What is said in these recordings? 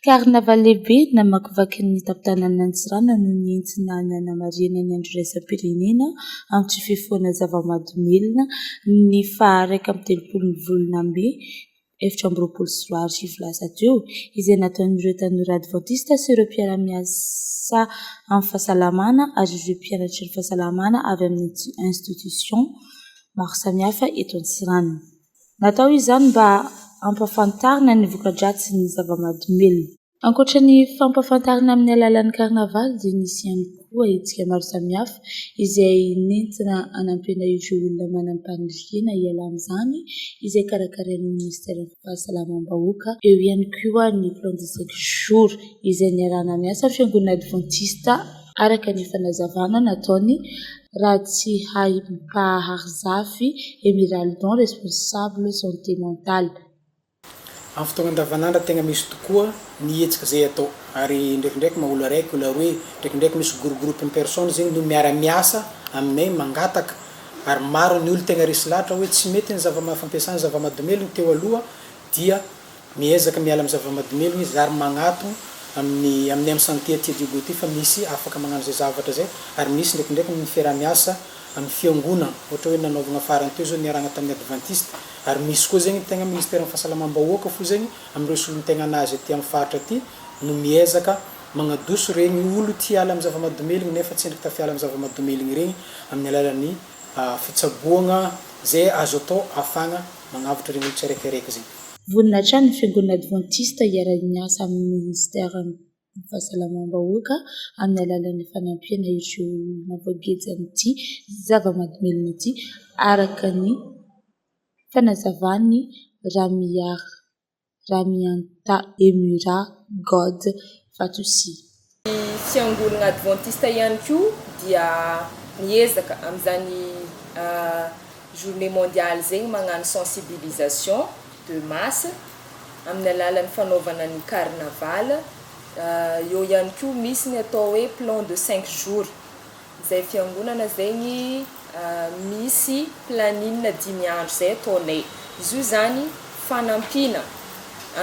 Karnaval lehibe namakivaky ny tampon-tanàna Antsiranana no nentina nanamarihana ny Andro Iraisam-pirenena amin'ny tsy fifohana zava-mahadomelina ny faha iraika amby telopolo ny volana mey efatra amby roapolo sy roa arivo lasa teo, izay nataon'ireo tanora advantista sy ireo mpiara-miasa amin'ny fahasalamana ary ireo mpianatry ny fahasalamana avy amin'ny institutions maro samihafa eto Antsiranana. Natao izany mba hampahafantarina ny voka-dratsin'ny zava-mahadomelina. Ankoatra ny fampahafantarana amin'ny alalan'ny karnavaly dia nisy ihany koa hetsika maro samihafa izay nentina hanampiana ireo olona manam-paniriana hiala amin'izany izay karakarain'ny minisiteran'ny fahasalamam-bahoaka. Eo ihany koa ny plan de sept jours izay niarahana miasa amin'ny fiangonana advantista. araka ny fanazavana nataon'ny Ratsihahibom-pahary Zafy Emeraldon, responsable santé mentale. Amin'ny fotoana andavanandro tegna misy tokoa ny hetsika izay atao ary ndraikindraiky maha olo araiky olo aroe, ndraikindraiky misy groupe groupe-n'ny personnes zegny no miara miasa aminay mangataka ary maro ny olo tegna resy lahatra hoe tsy mety ny zava-maha fampiasana zava-mahadomelina teo aloha dia Miezaka miala amin'ny zava-mahadomelina izy ary magnato amin'ny amin'ny amin'ny sentier Teddy Hugo ity fa misy afaka magnano izay zavatra izay ary misy ndraikindraiky ny fiaraha-miasa amin'ny fiangonana ohatra hoe nanaovagna farany teo zao niarahagna tamin'ny adventiste ary misy koa zegny tegna ministeran'ny fahasalamam-bahoaka fo zegny amin'ireo solontegnan'azy aty amin'ny faritra aty no miezaka magnadoso regny olo tia hiala amin'ny zava-mahadomelina nefa tsendriky tafiala amin'ny zava-mahadomelina regny amin'ny alalan'ny fitsaboagna izay azo atao ahafahagna magnavotra reo olo tsy araiky araiky zay. Vonona hatrany ny Fiangonana Advantista hiara miasa amin'ny Ministeran'ny Fahasalamam-bahoaka amin'ny alalan'ny fanampiana ireo olona voageja amin'ity zava-mahadomelina ity, araka ny fanazavan'i Ramiary. Ramiantaemira God Fatosi. Ny Fiangonana Advantista ihany koa dia miezaka amin'izany Journée Mondiale izay ny magnano sensibilisation de masse amin'ny alalan'ny fanaovana ny carnaval, eo ihany koa misy ny atao hoe plan de cinq jours. Zay fiangonana zay ny misy planine dimy andro zay ataonay zo zany fanampiana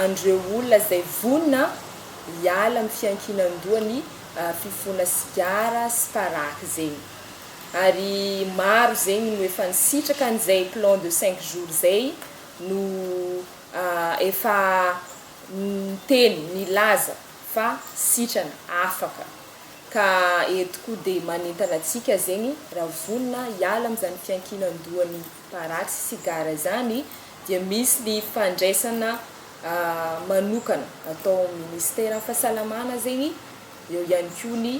an'ireo olona zay vonona hiala amin'ny fiankinan-doha ny fifoana sigara sy paraky zegny ary maro zegny no efa nisitraka an'izay plan de cinq jours zay no efa niteny nilaza fa sitrana afaka Ka eto koa dia manentana antsika zegny raha vonona hiala amin'izany fiankinan-dohan'ny paraky sy sigara izany dia misy ny fandraisana manokana atao amin'ny minisiteran'ny fahasalamana zegny, eo ihany koa ny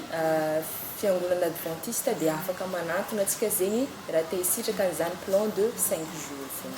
fiangonana advantista dia afaka manantona antsika zegny raha te hisitraka an'izany plan de cinq jours zany.